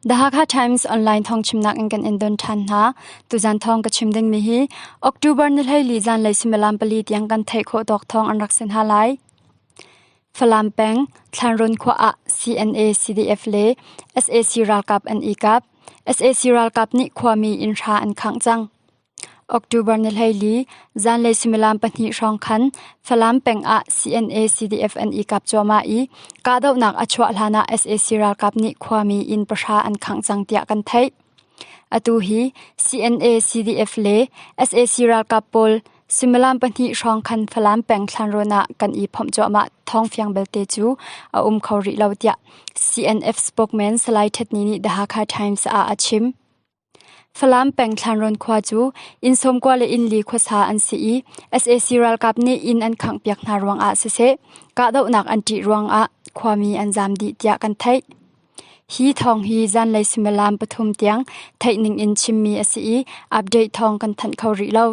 The Hakha Times online thong chimnak in kan in don than hna. Tuzan thong ka chim ding mi hi October ni hlei zan lei similam pali tiang kan thei kho dok thong an rak sin ha lai. Falam peng Thlanron khwa a CNA CDF le SAC ralkap an ikap. SAC ralkap nih khwami in ra an khang chang. October ni hleili zanlei suimilam pahnih hrawng khan Falam peng ah CNA-CDF an i kap cuahmah i kahdohnak a chuah hlanah sac ralkap nih khuami inn pahra an khangh cang tiah kan theih. Atu hi CNA-CDF le sac ralkap pawl suimilam pahnih hrawng khan Falam peng thlanrawn ah kan i phomh cuahmah thawngfiang belte cu a um kho rih lo tiah CNF spokesman Salai Hthetni nih The Hakha Times ah a chim. Falam peng Thlanrawn khua cu inn sawmkua le inn li khuasa an si i sac ralkap nih inn an khanghpiak hna ruangah siseh kahdohnak an ṭih ruangah khuami an zaam dih tiah kan theih. Hi thawng hi zanlei suimilam pathum tiang theih ningin chimmi a si i update thawng kan thanh kho rih lo.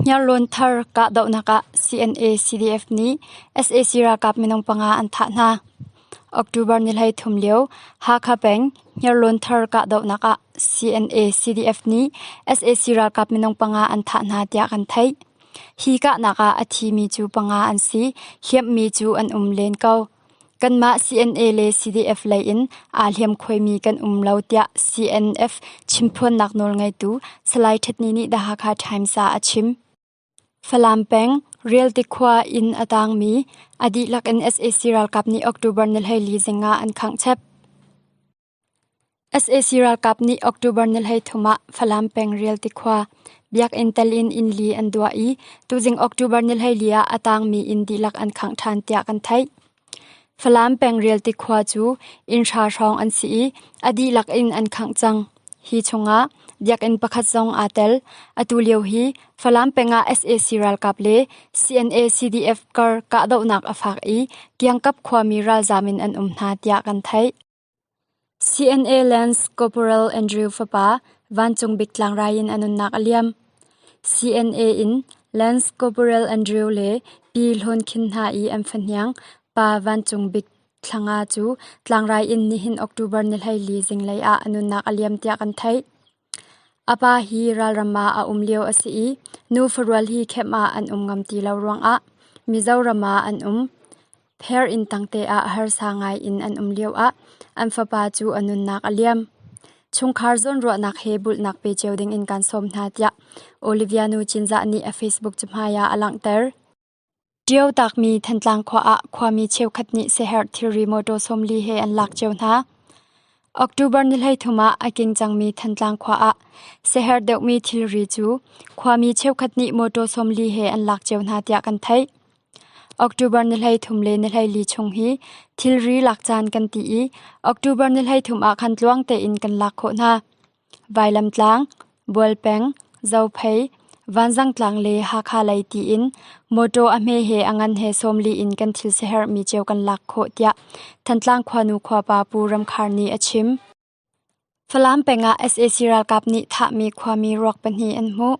Hniarlawn thar kahdohnak ah CNA-CDF nih sac ralkap minung panga an thah hna. October ni hleithum lio Hakha peng Hniarlawn thar kahdohnak ah CNA-CDF nih sac ralkap minung panga an thah hna tiah kan theih. Hi kahnak ah a thi mi cu panga an si, hliamhmi cu an um len ko. Kanmah CNA le CDF lei in aa hliamkhuaimi kan um lo tiah CNF chimphuannak nawlngeitu Salai Ṭhitni nih The Hakha Times ah a chim. Falam peng Rial tikhua inn a taangmi a dihlak in sac ralkap nih October ni hleili zing ah an khangh chep. sac ralkap nih October ni hleithum ah Falam peng Rial tikhua Biakinn tel in innli an duah i tuzing October ni hleili ah a tangmi inn dihlak an khangh ṭhan tiah kan theih. Falam peng Rial tikhua cu inn hra hrawng an si i a dihlak in an khangh cang. Hi chungah Biakinn pakhat zong aa tel. Atu lio hi Falam peng ah sac ralkap le CNA-CDF kar kahdohnak a faak i Kiangkap khuami ralzaam in an um hna tiah kan theih. CNA Lance Corporal Andrew fapa Vancung Bik Tlangrai in a nunnak a liam. CNA in Lance Corporal Andrew le Pi Hlawn Khin hna i an fahniang pa Vancung Bik Thlanga cu Tlangrai in nihin October ni hleili zinglei ah a nunnak a liam tiah kan theih. A pa hi ralram ah a um lio a si i nu farual hi khenh ah an um ngam ti lo ruangah Mizoram ah an um. Pher inn tangte ah harsa ngai in an um lioah an fapa cu a nunnak a liam. Chungkhar zawnruahnak he bulhnak pe cio dingin kaan sawm hna tiah Olivia nu Cinzah nih a Facebook cahmai ah a langhter. Ṭio taakmi Thantlang khua ah khuami cheukhat nih siaherh thilri mawṭaw sawmli he an lak cio hna. October ni hleithum ah a king cangmi Thantlang khua ah siaherh deuhmi thilri cu khuami cheukhat nih mawṭaw sawmli he an lak cio hna tiah kan theih. October ni hleithum le ni hleili chung hi thilri lak caan kan ti i October ni hleithum ah khan tluang tein kan lak khawh hna. Vailamtlang, Bualpeng, Zophei, Vanzangtlang le Hakha lei tiin mawṭaw a hme he a ngan he sawmli in kan thil siaherhmi cio kan lak khawh tiah Thantlang khuanu khuapa Pu Ram Khar nih a chim. Falam pengah sac ralkap nih thahmi khuami ruak pahnih an hmuh.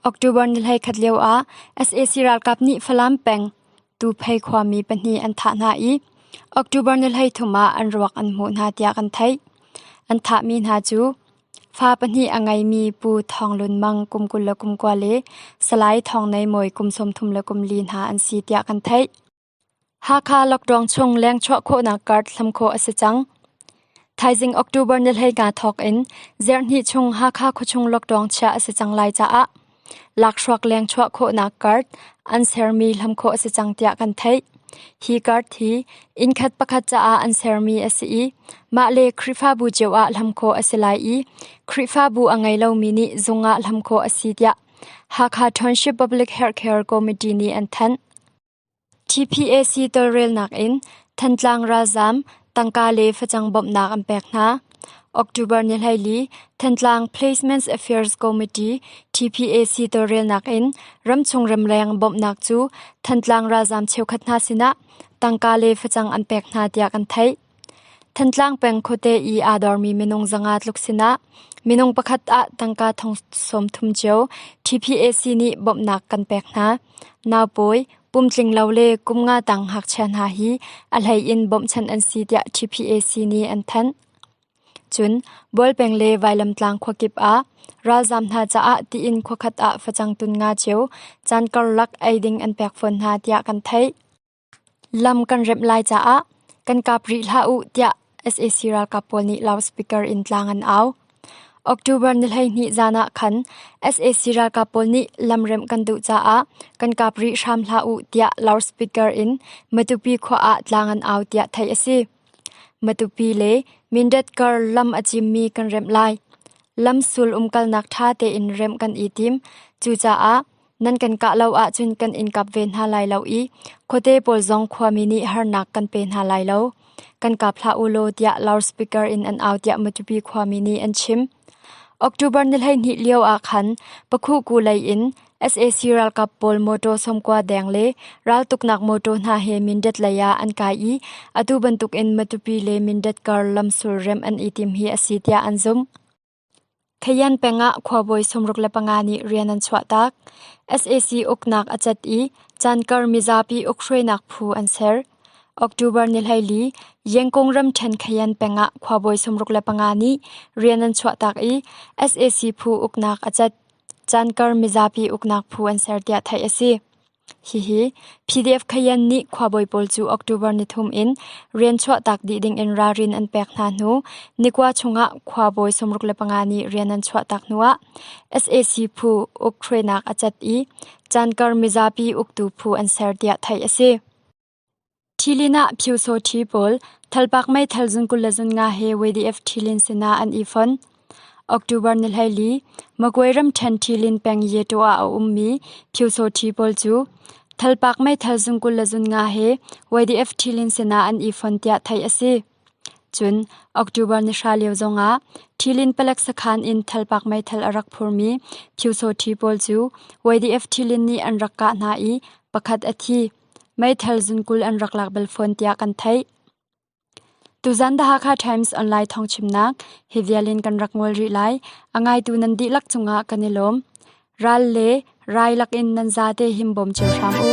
October ni hlei khat lio ah sac ralkap nih Falam peng Tuuphei khuami pahnih an thah hna i October ni hleithum ah an ruak an hmuh hna tiah kan theih. An thahmi hna cu fa pahnih a ngeimi Pu Thawng Lun Mang kum kul le kum kua le Salai Thawng Nei Mawi kum sawmthum le kum li hna an si tiah kan theih. Hakha lockdown chung lengchuah khawhnak card hlam khawh a si cang. Thaizing October ni hleika thawk in Zerhnih chung Hakha khuachung lockdown chiah a si cang lai caah lakhruak leng chuah khawhnak card an sermi hlam khawh a si cang tiah kan theih. Hi card hi innkhat pakhat caah an sermi a si i mah le Khrihfabu cio ah hlam khawh a si lai i Khrihfabu a ngei lomi nih zung ah hlam khawh a si tiah Hakha Township Public Healthcare Committee nih an thanh. TPAC tawlrelnak in Thantlang ralzaam tangka le facang bawmhnak an pek hna. October ni hleili Thantlang Placements Affairs Committee TPAC tawlrelnak in ramchung ramleng bawmhnak cu Thantlang ralzaam cheukhat hna sinah tangka le facang an pek hna tiah kan theih. Thantlang peng khuate i aa dormi minung zanga tluk sinah minung pakhat ah tangka thong sawmthum cio TPAC nih bawmhnak kan pek hna. Naupawi, pumtlinglo le kum nga tang ngakchia hna hi a hlei in bawmhchanh an si tiah TPAC nih an thanh. Cun Bualpeng le Vailamtlang khuakip ah ralzam hna caah tiin khuakhat ah facang tun nga cio caan karlak ei ding an pek fawn hna tiah kan theih. Lam kan remh lai caah kan kap rih hlah u tiah sac ralkap pawl nih loudspeaker in tlang an au. October ni hleihnih zan ah khan sac ralkap pawl nih lam remh kan duh caah kan kap rih hram hlah u tiah loudspeaker in Matupi khua ah tlang an au tiah theih a si. Matupi le Mindat-kar lam a cimmi kan remh lai. Lam sul umkalnak ṭha tein remh kan i tim. Cucaah Nan kan kah lo ahcun kan in kap ve hna lai lo i khuate pawl zong khuami nih harnak kan pe hna lai lo. Kan kap hlah u law tiah loudspeaker in an au tiah Matupi khuami nih an chim. October ni hleihnih lio ah khan Pakhuku lei in sac ralkap pawl motor somkua deng le raltuknak motor hna he Mindat lei ah an kai i atu bantukin Matupi le Mindat kar lamsul rem an i tim hi a si tiah an zumh. Khayan peng ah khuabawi sawmruk le panga nih rian an chuahtak. sac uknak a cat i Cankar mizapi ukhruainak phu an ser. October ni hleili Yengkung ramṭhen Khayan peng ah khuabawi sawmruk le panga nih rian an chuahtak i sac phu uknak a cat. Cankar mizapi uknak phu an ser tiah theih a si. Hihi PDF Khayan nih khuabawi pawl cu October ni thum in rian chuahtak dih ding in ralrin an pek hna hnu nikua chungah khuabawi sawmruk le panga nih rian an chuahtak hnuah sac phu uk hruainak a cat i caan kar mizapi uktu phu an ser tiah theih a si. Ṭhilin ah Phyosaw-ṭhi pawl Thalpak meithal zun kul le zun nga he YDF ṭhilin sinah an i fon. October ni hleili, Magway ramṭhen ṭhilin peng Yeto ah a ummi Phyosaw-ṭhi pawl cu Thalpak meithal zun kul le zun nga he YDF ṭhilin sinah an i fon tiah theih a si. Cun October ni hra lio zongah ṭhilin palek sakhan in Thalpak meithal a rak phurmi Phyosaw-ṭhi pawl cu YDF ṭhilin nih an rak kah hna i pakhat a thi. Meithal zunkul an rak lak bal fawn tiah kan theih. Tuzan The Hakha Times online thawngchimnak hi vial in kan rak ngol rih lai. A ngaitu nan dihlak cungah kan i lawm. Ral le rai lakin nan zate him bawm cio hram u.